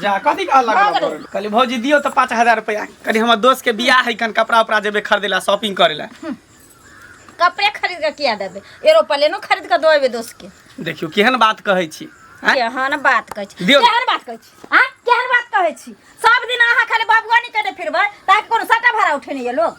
जा कथी का लगा भाग रे। कहली भौजी दियो तो पाँच हजार रुपया कहली हमर दोस्त के बियाह है कन कपड़ा उपड़ा जेबे खरीदे ला शॉपिंग करे ला कपड़े खरीद के किया देबे एरोप्लेनो खरीद के देबे दोस्त के देखियो केहन बात कहै छी आँय? केहन बात कहै छी दियौ। केहन बात कहै छी हां केहन बात कहै छी सब दिन अहाँ खाली बाबुआनी कने फिरबै ताकि कोनो सटा भाड़ा उठेने ये लोग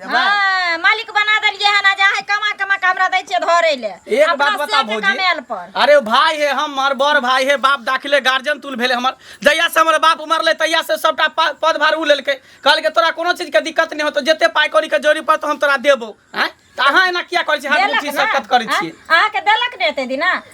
देबै हाँ, मालिक बना देलियै हन आ जा है कमा कमा के हमरा दै छियै धरे ले एक अपना बात बता सेठ भौजी कमाएल पर अरे भाय हे हमर बड़ भाय हे बाप दाखिले गार्जियन तुल भेले हमर जहिया से हमर बाप मरले तहिया से सबटा पा- पद भार उ लेलके कहलके तोरा कोनो चीज के दिक्कत नहीं होतो जते पाई कौड़ी के जोड़ी पर तो हम तोरा देबो हैं त अहाँ एना किया करै छी हर देलक चीज ने? सब कत करै छी अहाँ- अहाँके देलक ने एते दिन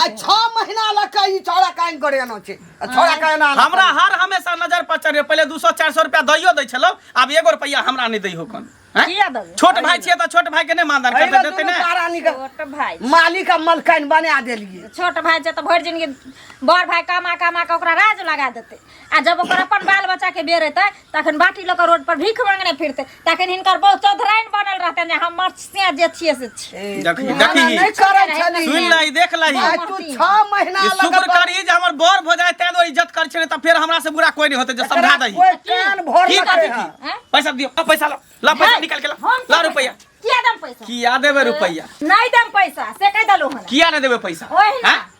आ छह महीना लग के ई छौड़ा काइन करे आना छै आ छौड़ा के एना आना हमरा हर हमेशा नजर पर चढ़े पहिले दू सौ चारि सौ रुपया दैयो दै छलौ आब एगो रुपया हमरा नहि दै हो कन हैं? किया देबै छोट भाई छियै तऽ छोट भाई के नहि मानदान अरे करते ना देते दुनू ने पारानी के छोट भाय मालिक आ मलकाइन बना देलिए छोट भाय छै तऽ भरि जिनगी बड़ भाय कमा कमा कऽ ओकरा राज लगा देतै आ जब ओकर अपन बाल बच्चा के बेर एतै तखन बाटी लऽ कऽ रोड पर भीख मांगने फिरतै तखन हिनकर बहुत चौधराइन बनल रहतै जे हम मर्सिया जे छियै से छियै देखी मना देखी नहि करै छली सुन लही देख लही आ तू छह महीना ई लग शुक्र करी जे हमर बर भऽ जाए तें दुआरे इज्जत कर छे तऽ फेर हमरा से बुरा कोई नहीं होते जे समझा दही कोई कान भर की लगे बात है की हैं? पैसा दियो आ पैसा ला ला पैसा निकाल के ला हम ला रुपया किया दम पैसा किया देबे रुपया नहीं दम पैसा से कह दलो हन किया नहीं देबे पैसा ओहिना। हैं?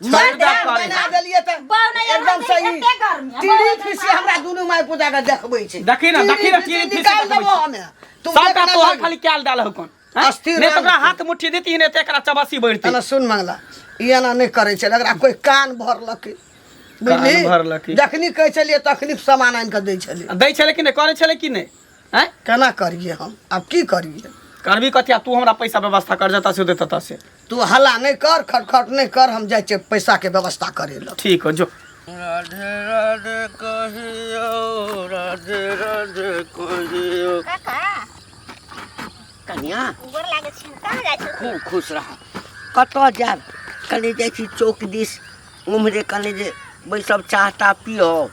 माय छेड़दा ध्यान करे। बना देलियै तऽ बाउ नै एकदम सही एते गर्मी आ, टीढ़ी बाउ नै फीसी माय। हमरा दुनू माय पूजा के देखबै छै देखी ना, देखी ना, टीढ़ी टीढ़ी फीसी फीसी निकाल देखबै देबो छै। हमे तू सबटा देखना तोहर लगी। खाली कैल डाल हौ कोन अस्थिर नहि तऽ रहल ओकरा छै। हाथ मुट्ठी देती नहि तऽ एकरा चबासी बढ़ती एना सुन मंगला ई एना नहि करै छै एकरा कोई कान भरलकै कान भरलकै। बुझली जखनी कहै छलियै तखनी सामान आनि कऽ दै छलियै दै छलै कि नहि करै छलै कि नहि आँय केना करिए हम आब की करिए करबी कथी आ तू हमरा पैसा व्यवस्था कर जतऽ से देतऽ ततऽ से तू हल्ला नहीं कर खटखट नहीं कर हम जाए छे पैसा के व्यवस्था करे ला ठीक हो जो राधे राधे कहियो राधे राधे कहियो काका कन्या गोर लागै छै कहाँ जाइ छै खूब खुश रह कतऽ जायब कने जाइ छी चौक दिस उम्हरे कने जे बैसब चाह ताह पियब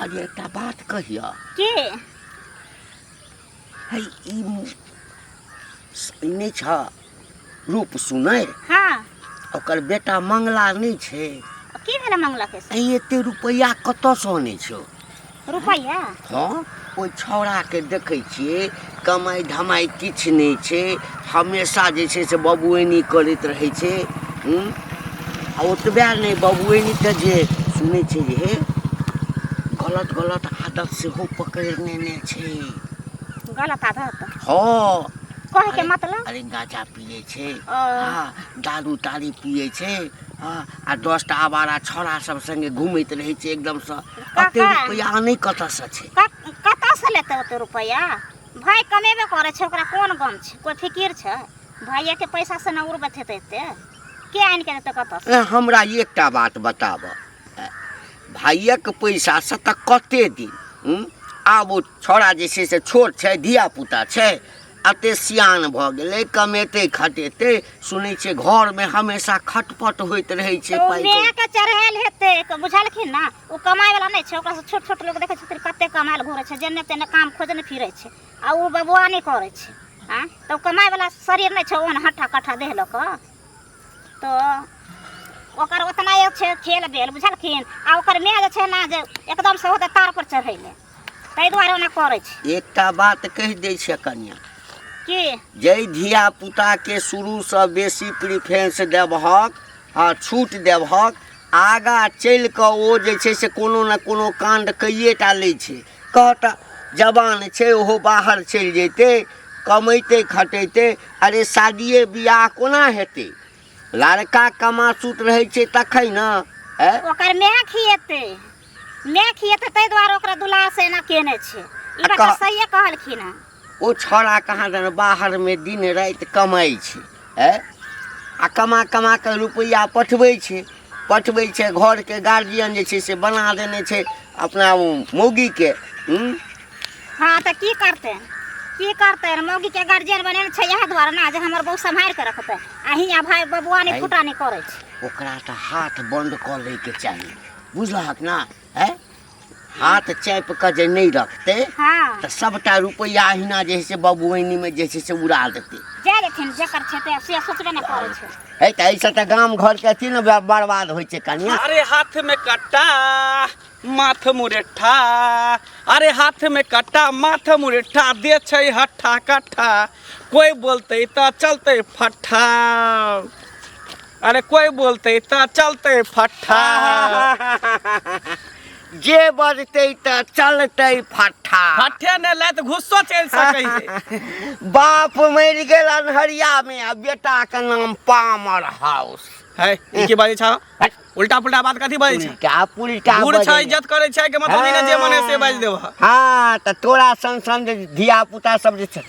अरे एकटा बात कहियऽ की है ई मु- ई नहि छ रूप सुनै हाँ ओकर बेटा मंगला नहि छै की भेलै मंगला के से ई एते रुपैआ कतऽसँ अनै छौ रुपैआ हँ ओहि छौड़ाके देखै छियै कमाइ धमाइ किछु नहि छै हमेशा जे छै से बबुएनी करैत रहै छै हूँ आ ओतबे नहि बबुएनीके जे सुनै छै जे हे गलत गलत आदत सेहो पकड़ि नेने छै गलत आदत हँ कहे के मतलब अरे गांजा पिए छै ओ। हाँ, दारू तारी पिए छै हाँ, आ दस टा आवारा छौड़ा सब संगे घूमैत रहै छै एकदम से अते काका रुपया आनै कतऽसँ छै कत- कतऽसँ लेतै ओते रुपैआ भाय कमेबे करै छै ओकरा कोन गम छै कोइ फिकिर छै भाइएके पैसासँ ने उड़बैत हेतै एते के आनि कऽ देतै कतऽसँ ए, हमरा एकटा बात बताबऽ ए, भाइयक पैसासँ तऽ कते दिन हुँ? आब ओ छौड़ा जे छै से छोट छै धियापुता छै अते सियान भऽ गेलै कमेतै खटेतै सुनै छियै घरमे हमेशा खटपट होइत रहै छै ओ पाइ माय के चढ़ायल हेतै क- बुझलखिन ना ओ कमाय वाला नहि छै ओकरा से छोट छोट लोग देखै छथिन कते कमायल घुरै छै जेने तेने काम खोजने फिरै छै आ ओ बबुआ नहि करै छै आ तऽ ओ कमाय वाला शरीर नहि छै ओहन हट्ठा कट्ठा देह लऽ कऽ तो ओकर ओतना एक छै खेल बेल बुझलखिन आ ओकर माय जे छै ने जे एकदम से होतै तार पर चढ़ैले ताहि दुआरे ओना करै छी एकटा बात कहि दै छियै कनिया की जाहि धिया पुताके शुरूसँ बेसी प्रिफरेंस देबहक आ छूट देबहक आगाँ चलि कऽ ओ जे छै से कोनो ने कोनो काण्ड कैए टा लै छै कहत जवान छै ओहो बाहर चलि जैतै कमैते खटैते अरे शादिए बियाह कोना हेतै लड़का कमासुत रहै छै तखन ने ऐ ओकर माय खिएतै माय खिएतै ताहि दुआरे ओकरा दुलार से एना केने छै ई आ बात कह- सहिए कहलखिन हँ ओ छौड़ा कहाँ दन बाहरमे दिन राति कमाइ छै ए आ कमा कमा कऽ रुपैआ पठबै छै पठबै छै घरके गार्जियन जे छै से बना देने छै अपना ओ मौगीके हूँ हाँ तऽ की करतै की करतै मौगी के गार्जियन बनेने छै इएह दुआरे ने जे हमर बहू सम्हारि के रखतै आ हियाँ भाय बबुआ नहि आइ। फुटा नहि करै छै ओकरा तऽ हाथ बन्द कऽ लैके चाही बुझलहक ने है हाथ चाप कऽ जे नहि रखतै हाँ तऽ सभटा रुपैआ अहिना जे है से बबुआनीमे जे छै से उड़ा देतै जा देथिन जकर छै ते से सोचबे ने करै छै है तऽ एहिसँ तऽ गाम घरके अथी ने बर- बर्बाद होइ छै कनिया अरे हाथ में कट्टा माथ मुरेठा अरे हाथ में कट्टा माथ मुरेठा दे छै हट्ठा कट्ठा कोई बोलते त चलते फट्ठा अरे कोई बोलते तो चलते फट्ठा जे बजते तो चलते फट्ठा फट्ठे ने लात घुस्सो चल सके है बाप मर गेल अनहरिया में आ बेटा के नाम पामर हाउस है ई की बाजे छा उल्टा पुल्टा बात कथी बाजे छा उल्टा पुल्टा बूढ़ बजै छा छै। इज्जत करे छै के मतलब ई ने जे मने से बाज देबो हाँ तो तोरा सन सन जे धिया पुता सब जे छै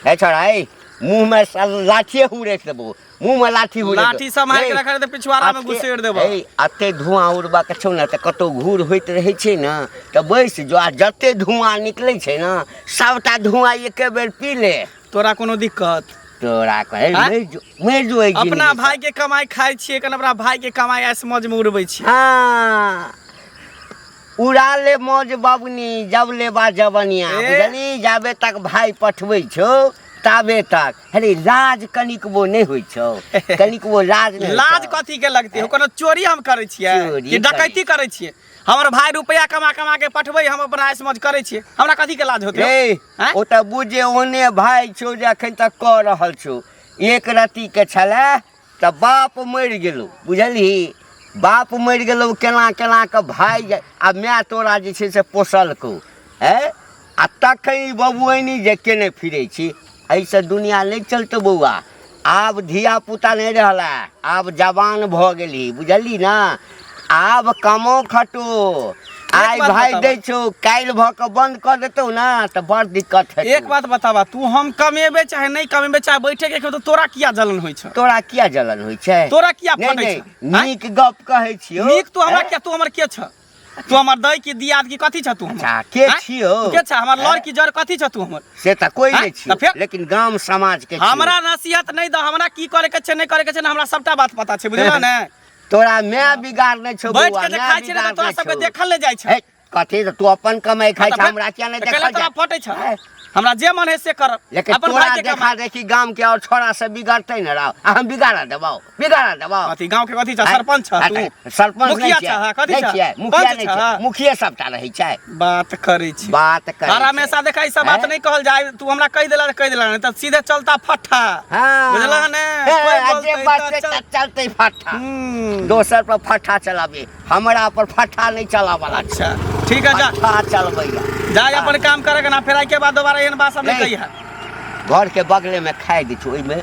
है छोड़ा है मुँह में स- लाठिए हुरेक देबो मुंह में लाठी हो लाठी सम्हारि के रखा रहते पिछवाड़ा में घुसेड़ देबो ए अते धुआं उड़बा के छौ ना त कतो घूर होइत रहै छै ना त बैस जो आ जते धुआं निकलै छै ना सबटा धुआं एके बेर पी ले तोरा कोनो दिक्कत तोरा कहे आँय? मरि जो मरि जो एहि अपना जिनगी भाई के कमाई खाई छिए कन अपना भाई के कमाई ऐस मौज में उड़बै छिए हाँ उड़ा ले मौज बबनी जब लेबा जबनिया ए? बुझली जाबे तक भाई पठबै छौ ताबे तक अरे लाज कनिकबो नहि होइ छौ कनिकबो लाज नहि लाज कथी के लगते हो कोनो चोरी हम करै छियै कि डकैती करै छियै हमर भाय रुपया कमा कमा के पठबै हम अपना मौज करै छियै हमरा कथी के लाज होतै ओ तऽ बुझे ओने भाय छौ जे अखन तक कऽ रहल छौ एक रत्ती के छलै तऽ बाप मरि गेलौ बुझलही बाप मरि गेलौ केना केना कऽ भाय जा- आ माय तोरा जे छै से पोसलकौ ए आ तखन ई बबुआनी जे केने फिरै छी एहिसँ दुनिया नहि चलतौ बौआ आब धिया पुता नहि रहला आब जवान भऽ गेलही बुझलही ने आब कमो खटो आइ बात भाइ बताबऽ। दै छौ काल्हि भऽ कऽ बन्द कऽ देतौ ने तऽ बड़ दिक्कत हेतौ एक बात बताबा तू हम कमेबे चाहे नहीं कमेबे चाहे बैठे के खेबे तो तोरा किया जलन होइ छ तोरा किया जलन होइ छै तोरा किया नहि फटै नहि छ आँय? नीक गप कहै छियौ नीक तू हमरा आँय? किया तू हमर के छ तू हमर दै की दियाद की कथी छ तू हमर अच्छा, के आँय? छियौ? तू के छ हमर लड़ की जड़ कथी छ तू हमर से तऽ कोई आँय? नहि छियौ तऽ फेर? लेकिन गाम समाज के छियौ। हमरा नसीहत नहीं द हमरा की करे के छै नहीं करे के छै ना हमरा सबटा बात पता छै बुझला ने तोरा मैं बिगाड़ नहीं छो बैठ के जे खाइ छी त तोरा सबके देखल नै जाइ छै कथी त तू अपन कमाई खाइ छ हमरा किया नै देखल तोरा फटै छ हमरा जे मन है से कर लेकिन अपन तोरा देखा देखी गांव के और छोरा से बिगड़ते न रहो हम बिगाड़ा देबो बिगाड़ा देबो कथी गांव के कथी छ सरपंच छ तू सरपंच मुखिया छ कथी छ मुखिया नै छ मुखिया सबटा रहै छै बात करै छी बात कर हर हमेशा देखा ई सब बात हैं? नहीं कहल जाए तू हमरा कह देला कह देला नहीं तब सीधे चलता फट्ठा हाँ। बुझला है ने? हे, कोई आ जे बोलतै बात तऽ पे चल- चल- चलते फट्टा हम्म, दोसर पर फट्टा चलाबे हमरा पर फट्टा नहीं चलावला छै। अच्छा ठीक है जा फट्टा चलबैया जा जा अपन काम करे के ना फिर आई के बाद दोबारा एहन बात सब नहीं नहीं। कही है घर के बगले में खाए दी छी ओहिमे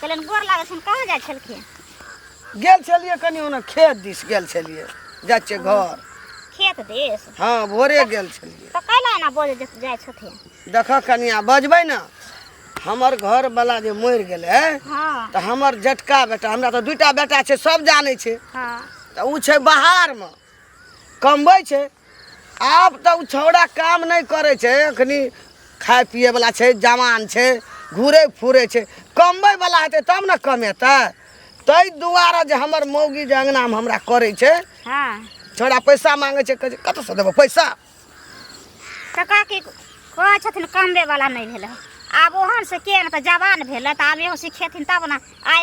कहलियनि गोर लागै छनि कहाँ जाइ छलखिन गेल छलियै कनि ओना खेत दिस गेल छलियै जाइ छियै घर खेत देश हँ भोरे गेल छलियै तऽ कैला एना बजे जे जाइ छथिन देखऽ कनिया बजबै ने हमर घरवला जे मरि गेलै हँ तऽ हमर जटका बेटा हमरा तऽ दूटा बेटा छै सब जानै छै हँ तऽ ओ छै बाहरमे कमबै छै आब तऽ ओ छौड़ा काम नहि करै छै एखन खाइ पिएवला छै जवान छै घुरै फुरै छै कमबैवला हेतै तब ने कमेतै ताहि दुआरे जे हमर मौगी जे अङ्गनामे हमरा करै छै हँ छौड़ा पैसा मांगे छै कहै छै कतऽसँ देबो पैसा तऽ काकी कहै छथिन कमबे वाला नहि भेलै आब ओहन से के ने तऽ जवान भेलै तऽ आब एहो सिखेथिन तब ने आइ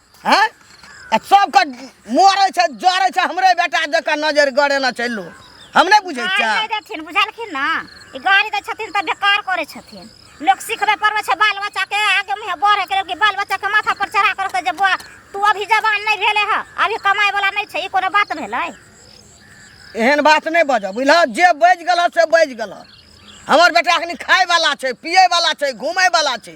हैं आ सबके मोरे छै जरे छै हमरे बेटा जका नजर गड़ेना छै लोग हम नहीं बुझे गाड़ी छियै दे देथिन बुझलखिन ना ई गाड़ी दै छथिन तऽ बेकार करै छथिन लोक सिखबे पड़बै छै बाल बच्चाके आगे मुँहे बढ़े के कि बाल बच्चाके माथा पर चढ़ा कर जे बौआ तू अभी जवान नहीं भेले है अभी कमाए वाला नहीं छै ई कोनो बात भेलै एहन बात नहीं बजऽ बुझल जे बज गल से बज गल हमर बेटा अखनी खाय वाला छै पिए वाला छै घूमे वाला छै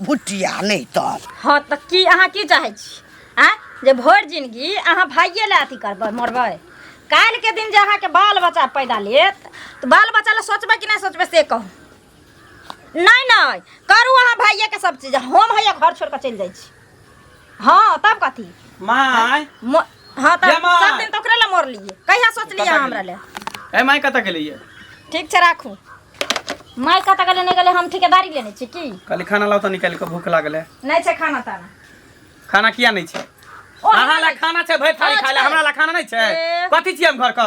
भुटिया नहि तब हँ तऽ की अहाँ की चाहै छी आ जे भरि जिनगी अहाँ भाइये लए अथी करबै मरबै काल्हिके दिन जे अहाँके बाल बच्चा पैदा लेत तऽ बाल बच्चा लए सोचबै कि नहि सोचबै से कहू नहि नहि करू अहाँ भाइयेके सब चीज हम हैया घर छोड़ि कऽ चलि जाइ छी हाँ तब कथी माय मो- हाँ तब जमा। सब दिन तो ओकरे ला मोर लिए कहिया सोच लिया कतऽ हमरा ले ए माय कतऽ गेलै ये ठीक छै राखू माय कतऽ गेलै नहि गेलै हम ठेकेदारी लेने छी की कहली खाना लाउ तऽ निकालि कऽ भूख लागल है नहि छै खाना ताना खाना किया नहि छै ओ, अहाँ हमरा ला खाना छै भरि थाली खाना खाय ला छै। हमरा ला खाना नहि छै ए। कथी छियै हम घर के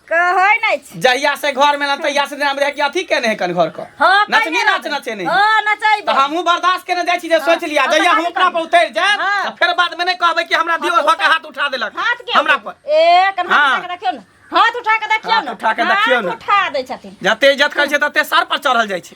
कहै नै छी जहिया से घर में ना तहिया से नाम रहे कि अथी केने है कन घर को हां नचनी नाच नचे नहीं हां नचै तो हमहु बर्दाश्त केने जाय छी जे सोच लिया जहिया हम अपना पर उतर जाय त फिर बाद में नै कहबै कि हमरा दियो भक हाथ उठा देलक हमरा पर ए कन हाथ रखियो ना हाथ उठा के देखियो ना उठा के देखियो ना उठा दै छथिन जते इज्जत करै छै तते सर पर चढ़ल जाय छै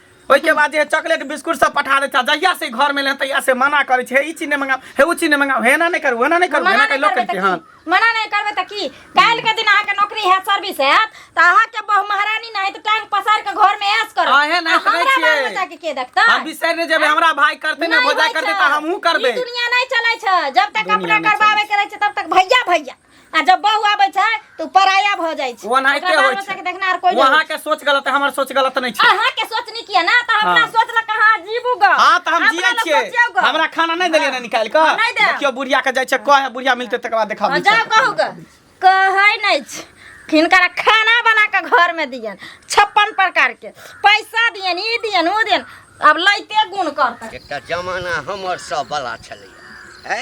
ओहिके बाद जे चॉकलेट बिस्कुट सब पठा दै छै जहिया से घर में ले तहिया से मना करे छै हे ई चीज नहीं मंगाओ हे उ चीज नहीं मंगाओ हे ना नहीं करू हे ना नहीं करू हे मना ना नहीं करू लोग करबै कहते तऽ हैं की? मना नहीं करबै तऽ की काल्हि के दिन अहाँके नौकरी हैत सर्विस हैत तऽ अहाँके बहु महारानी नहि हैत, तऽ टांग पसार के घर में ऐश करब अहे नहि आ हमरा करै छियै। बाल बच्चा के के देखतै हम बिसर ने जेबे हमरा भाई करते ना नहीं भोजा होइ करते छै। तऽ हमहू करबे ई दुनिया नहीं चलै छै जब तक दुनिया अपना नहीं करबाबे के रहै छै तब तक भैया भैया आ जब बहू आबै छै तऽ उ पराया भऽ जाइ छै ओनाहिते ओकरा बाल होइ बच्चा छै। के देखना आर कोई नहीं वहाँ के सोच गलत है हमार सोच गलत नहीं छै अहाँ के सोचनी किया ना तऽ हमरा हाँ। सोच ल कहाँ जीबू ग हाँ तो हम जिये छियै हमरा खाना नहीं देलियै ना निकाल के नहीं देब। देखियो बुढ़िया के जाय छै कहे बुढ़िया मिलते तकर बाद देखा जाओ कहू ग कहै नहीं छै हिनकरा खाना बना के घर में दियन छप्पन प्रकार के पैसा दियन ई दियन ओ दियन अब लैते गुण करतै एकटा जमाना हमर सब बला छलै है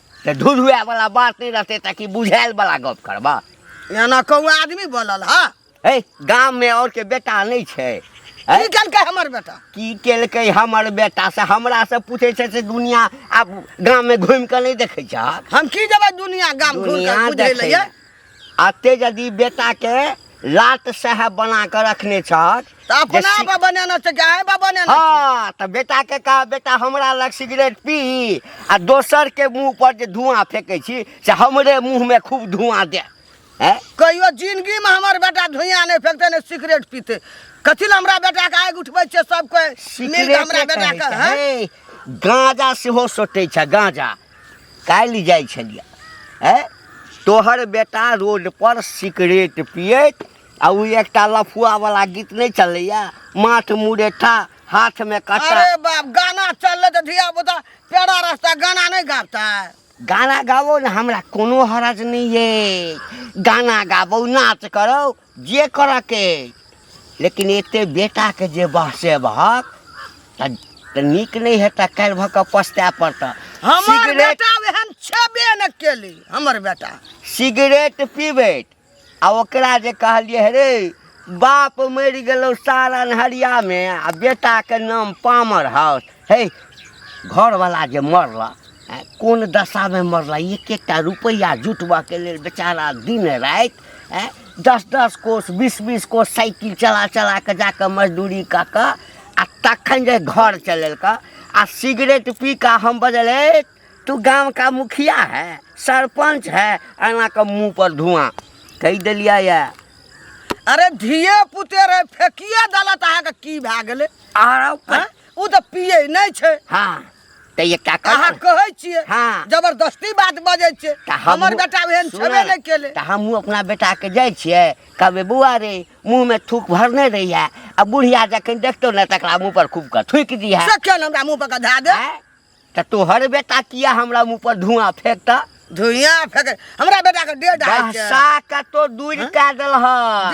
तऽ ढुलुआ वाला बात नहीं रहते ताकि बुझायल वाला गप करबा एना कहू आदमी बोलल हा हे गाम में और के बेटा नहीं छै हैं? की केलकै हमर बेटा की केलकै हमर बेटा से हमरा से पूछे छै से दुनिया आब गाम में घूम के नहीं देखे छहक हम की जेबै दुनिया गाम घूर दुनिया के बुझै देखे लए आते यदि बेटा के लाट साहब बना के रखने छहक तऽ अपना जैसे- बा बनाना छै कि आए बा बनाना हाँ तऽ बेटा के कहा बेटा हमरा लग सिगरेट पी आ दोसर के मुंह पर जे धुआं फेंकै छी से हमरे मुंह में खूब धुआं दे हैं? कहियो जिंदगी में हमर बेटा धुइयां नहीं फेंकते ने सिगरेट पीते कथी ला हमरा बेटा के आग उठबै छै सब कोई मिल के हमरा सिगरेटे बेटा कहै के छै, हैं? हे, गांजा सेहो सोटे छै गांजा काल्हि जाइ छलियै ए तोहर बेटा रोड पर सिगरेट पियत आ ओ एकटा लफुआ वाला गीत नहीं चलैया माथ मुरेठा हाथ में कटा अरे बाप गाना चलले तो धिया पुता पेड़ा रास्ता गाना नहीं गाता है गाना गाबो ने हमरा कोनो हरज नहीं है गाना गाबो नाच करो जे करऽ के लेकिन एते बेटा के जे बहसे बहक तऽ तऽ नीक नहि हेतऽ काल्हि भऽ कऽ पछताए पड़तऽ हमर सिगरेट बेटा एहन छेबे ने केली हमर बेटा सिगरेट पीबैत आ ओकरा जे कहलियै हे रे बाप मरि गेलौ सारन हरियामे आ बेटाके नाम पामर हाउस हे घरवला जे मरला आँय, कोन दशामे मरला एक एकटा रुपैआ जुटबऽके लेल बेचारा दिन राति आँय, दस दस कोस बीस बीस कोस साइकिल चला चला कऽ जा कऽ मजदूरी कऽ कऽ आ तखन जे घर चलेलका आ सिगरेट पी कऽ हम बजल "ए, तू गाँव का मुखिया है सरपंच है एना कऽ मुँह पर धुआं कहि देलियै यऽ अरे धिये पुते रहे फेकिए देलत अहाँके की भए गेलै आरो आँय? ओ तऽ पिए नहि छै हाँ तऽ ये का अहाँ कर कहै छियै हाँ। जबरदस्ती बात बजै छै तऽ हमहूँ- हमर बेटा एहन सुनऽ, छेबे नहि केले तऽ हमहूँ अपना बेटा के जाइ छियै कहबै बौआ रे मुँह में थूक भरने रही है आ बुढ़िया जखन देखतो ने तकरा मुँह पर खूब के थूक दी है से केहन हमरा मुँह पर गधा दे आँय? तऽ तोहर बेटा किया हमरा मुँह पर धुआं फेंकता धुइया फेंक हमरा बेटा के दे डाल बहसा के तो दूर हाँ? कह दल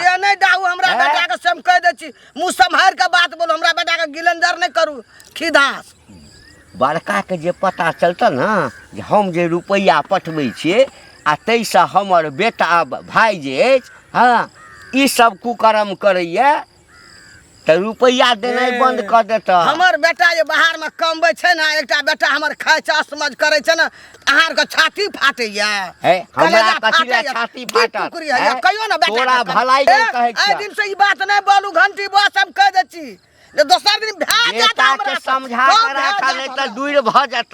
दे नहीं डाहू हमरा हाँ? बेटा के सम कह दे छी मुंह संभार के बात बोलो हमरा बेटा के गिलंदर नहीं करू खिदास बड़का के जे पता चलता ना जे हम जे रुपया पठबे छिए आ तै से हमर बेटा भाई जे अछि हाँ ई सब कुकर्म करैया तऽ रुपैआ देनाइ बन्द कऽ देतऽ हमर बेटा जे बाहरमे कमबै छै ने एकटा बेटा हमर खाइ छै असमझ करै छै ने अहाँ आरके छाती फाटैया हे, हमरा कलेजा कथी लए फाटैया, छाती की फाटत, कुकुरी हे? होइया, कहियो ने बेटा तोरा के। भलाइ हे, लेल कहै छियह। एहि दिन से ई बात नहि बोलू घंटी बस हम कह दै छी जे दोसर दिन भए जायत बेटा हमरा के से। समझा कम कऽ भए राखा जायत नहि तऽ हमरा। दूर भऽ जायत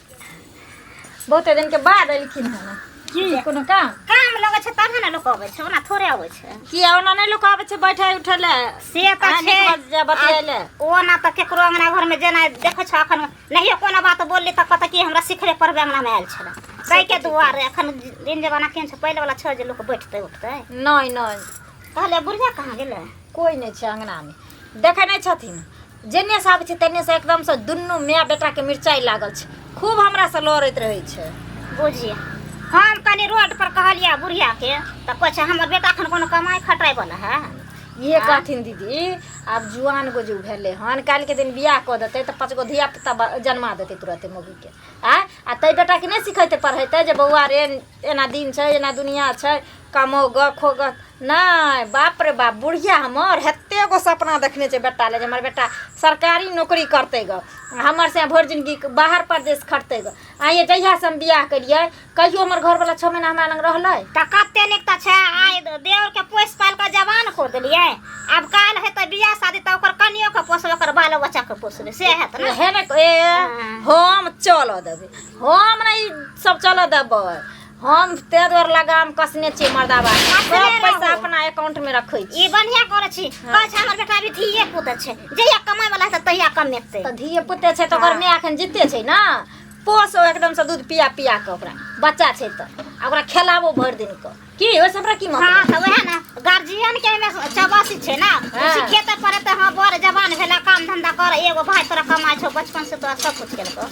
बहुते दिन के बाद एलखिन हन की कोनो काम काम लगै छै तबे ने लोक अबै छै ओना थोड़े अबै छै की ओना नहि लोक आबै छै बैठे उठे ले से तऽ अहाँ छै नीक बात जे बतियाइ ले। आ ओना तऽ केकरो अंगना घर में जेना देखै छ अखन नहियो कोनो बात बोलली तऽ कहतै कि हमरा सिखरे पढ़बे अंगना में आयल छलै कै के दुआरे अखन दिन जमाना केहन छै पहिले वाला छै जे लोक बैठतै उठतै नहि नहि कहले बुढ़िया कहाँ गेलै कोई नहि छै अंगना मे देखै नहि छथिन जेन्नेसँ आबै छै तेन्नेसँ एकदमसँ दुनू माय बेटाके मिरचाइ लागल छै खूब हमरासँ लड़ैत रहै छै बुझिए हम कनि रोडपर कहलियै बुढ़ियाके तऽ कहै छै हमर बेटा एखन कोनो कमाइ खटाइवला है इहे कहथिन दीदी आब जुआन गो जो भेलै हन काल्हिके दिन बियाह कऽ देतै तऽ पाँच गो धियापुता ब- जन्मा देतै तुरते मौगीके आँय आ तै बेटाके नहि सिखेतै पढ़ेतै जे बौआ रे एना दिन छै एना दुनिया छै कमौगऽ खोगऽ नहि बाप रे बाप बुढ़िया हमर हेते गो सपना देखने छै बेटा लए जे हमर बेटा सरकारी नौकरी करतै गऽ हमर से भरि जिनगी बाहर परदेश खटतै गऽ आइये जहिया से हम बियाह केलियै कहियो हमर घरवला छओ महीना हमरा लग रहलै तऽ कते नीक तऽ छै आइ देवर के पोसि पालि कऽ जवान कऽ देलियै आब काल्हि हेतै बियाह शादी तऽ ओकर कनियो के पोसबै ओकर बालो बच्चा के पोसबै से हेत ने हे ने ए हम चलऽ देबै हम नहि ई सब चलऽ देबै हम ते द्वार लगाम कसने छी मर्दाबा सब पैसा अपना अकाउंट में रखे छी ई बढ़िया करे छी हाँ। कह छै हमर बेटा भी धीए पुत छै जहिया कमाय वाला से तहिया कमेतै त धीए पुत छै त ओकर हाँ। माय अखन जीते छै ना पोस एकदम से दूध पिया पिया के ओकरा बच्चा छै त ओकरा खेलाबो भर दिन के की ओइ सब की मतलब हां त वहे ना गार्जियन के में चबासी छै ना हाँ। सीखे त पड़े त हां बड़ जवान भेला काम धंधा कर एगो भाई तोरा कमाय छौ बचपन से तो सब कुछ केलको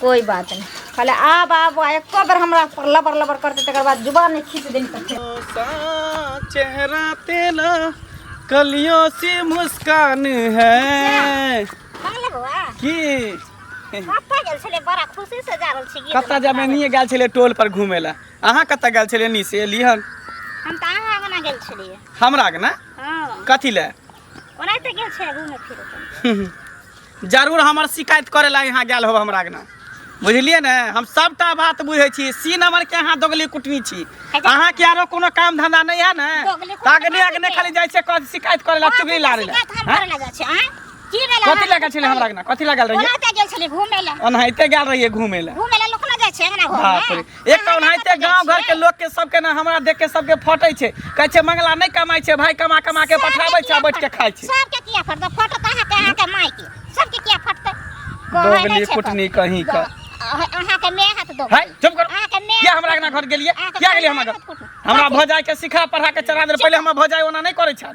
कोई बात नहीं कहले आब आब एको बेर हमरा पर लबर लबर करते तकर बाद जुबान नहीं खींच दिन तक चेहरा तेरा कलियों सी मुस्कान है पागल बउआ की कतऽ गेल छलै बड़ा खुशी से जा रहल छी गीत कतऽ जाबे नहीं गेल छले टोल पर घूमे ला अहाँ कतऽ गेल छले नी से एलिहन हम तऽ अहाँ आंगना गेल छलियै हमरा के ना हँ कथी ले ओनाहिते गेल छै घूमे फिरे जरूर हमर शिकायत करे ला यहाँ गेल हो हमरा ना बुझलिए ने हम सबटा बात बुझे छी सी नंबर के यहाँ दोगली कुटनी छी अहाँ के आरो कोनो काम धंधा नहीं है ने तागने अगने खाली जाय छै कथि शिकायत करे ला चुगली ला रे की भेल कथि लगा छले हमरा ना कथि लगा रहिए ओनाहिते गेल छले घूमे ला ओनाहिते गेल रहिए घूमे ला घूमे ला लोक ना जाय छै अंगना घर में एक तऽ ओनाहिते गाँव घरके लोकके सबके ने हमरा देख के सबके फटै छै कहै छै मंगला नहि कमाइ छै भाय कमा कमा के पठाबै छै आ बैठ के खाइ छै सबके किया फटतै फटत अहाँके अहाँके माय के सबके किया फटतै कहै दोगली नहि छै कुटनी कहीं का अहाँ- अहाँके माय हाथ दो है चुप कर अहाँके माय किया हमरा अंगना घर गेलिए अहाँके किया गेलिए हमरा माय घर हाथ कुटू। हमरा भौजाई के सिखा पढ़ा के चढ़ा देल पहिले हमर भौजाई ओना नहि करै छल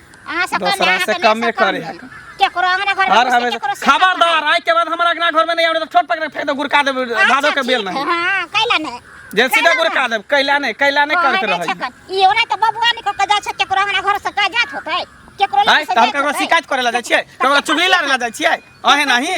अहाँ सब दोसरा कन्या से अहाँके कमे लेसँ कम करे भेल। केकरो अंगना घर हर हमेशा खबरदार आइ के बाद हमरा अगना घर में नहीं आवे तो छोट पकड़ फेंक दे गुरका दे भादो के बेल नहीं हां कैला ने जे सीधा गुरका दे कैला नहीं कैला नहीं करत रही ई ओना त बबुआ ने कक जा छै केकरो अंगना घर से का जात होतै केकरो आइ लग से हम जात ककरो होतै। शिकायत करे ला जाइ छियै ककरो चुगली लारे ला जाइ छियै अहे नहीं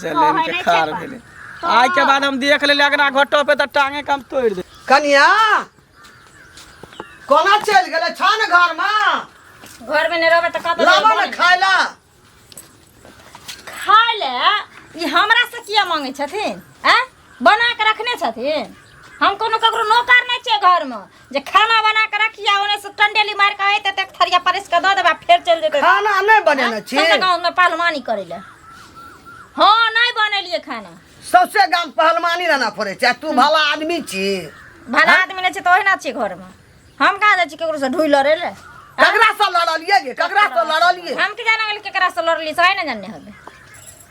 जलेन के खार भेले आज के बाद हम देख लेले अगना घोटो पे त टांगे कम तोड़ दे कनिया कोना चल गेले छान घर में घर में नहीं रहबे त कत लाबा न खाइला खाय ले ई हमरा से किया मांगे छथिन हैं बना के रखने छथिन हम कोनो ककरो नौकर नहि छियै घरमे जे खाना बना के रखिया ओने से टंडेली मार के अयते तक थरिया परस के दऽ देबा फेर चलि जेतै खाना नहि बनेने छी सबके गाँव में पहलवानी करे ले हँ नहि बनेलिए खाना सौसे गाम पहलवानी रहना पड़े छै आ तू भला आदमी छी भला आदमी नहि छै तऽ ओहिना छियै घरमे हम कहाँ जाइ छी ककरो से ढुइ लड़े ले ककरा से लड़लियै गे ककरा से लड़लियै हम के जाना गेल केकरा से लड़ली से नहि जाने हबे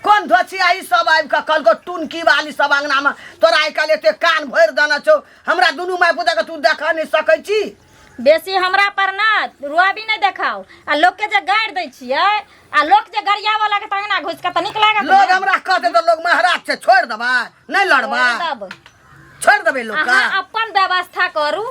कोन धोछिया ई सब आबि कऽ कहलको टुनकी वाली सब अंगना में तोरा आइ काल्हि एते कान भरि देने छौ हमरा दुनू माय पुता के तू देख नहि सकै छी बेसी हमरा पर ना रुआबी नहीं देखाओ आ लोग के जे गाड़ दै छियै आ लोग जे गरिया वाला के तंगना घुस के त निक लागत लोग हमरा कहते तो लोग महाराज से छोड़ देबा नहीं लड़बा छोड़ देब। छोड़ देबे लोग का अहाँ अपन व्यवस्था करू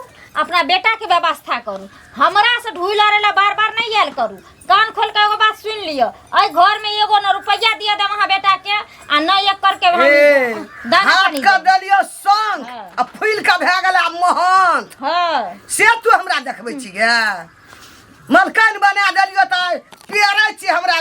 अपना बेटा के व्यवस्था करू हमरा से ढूल लड़े ला बार बार नहीं आयल करू कान खोल के एगो बात सुन लियो अय घर में एगो न रुपया दिया दे वहाँ बेटा के आ न एक करके हम ए, दाना हाथ पानी का देब। देलियो संग हाँ। आ फूल का भए गेल आ मोहन हाँ से तू हमरा देखबै छी गे मलकान बना देलियो तऽ पेरै छी हमरा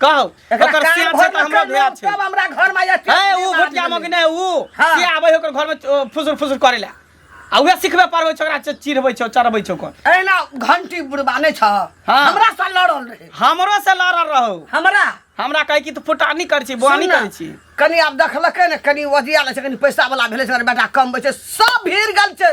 कहौ एकरा ओकर कान सियान भर छै तऽ हमरा लकड़ भैया लोग, छै तब हमरा घर में आइए, टेंट है ऊ निर्माण घटिया भेलै। मग नै ऊ हाँ। के आबै ओकर घर में फुसुर फुसुर करै ला आ उहे सिखबे पड़बै छै ओकरा च- चिढ़बै छै चढ़बै छै ओकर एहिना घंटी बुढ़बा नहि छ हाँ। हमरा से लड़ल रहे हमरो से लड़ल रहौ हमरा हमरा कहै कि तू फुटानी करै छी बोआनी सुन न, करै छी कनी आब देखलकै ने कनी वजिया लै छै कनी पैसा वाला भेलै छै बेटा कम छै सब भीड़ गेल छै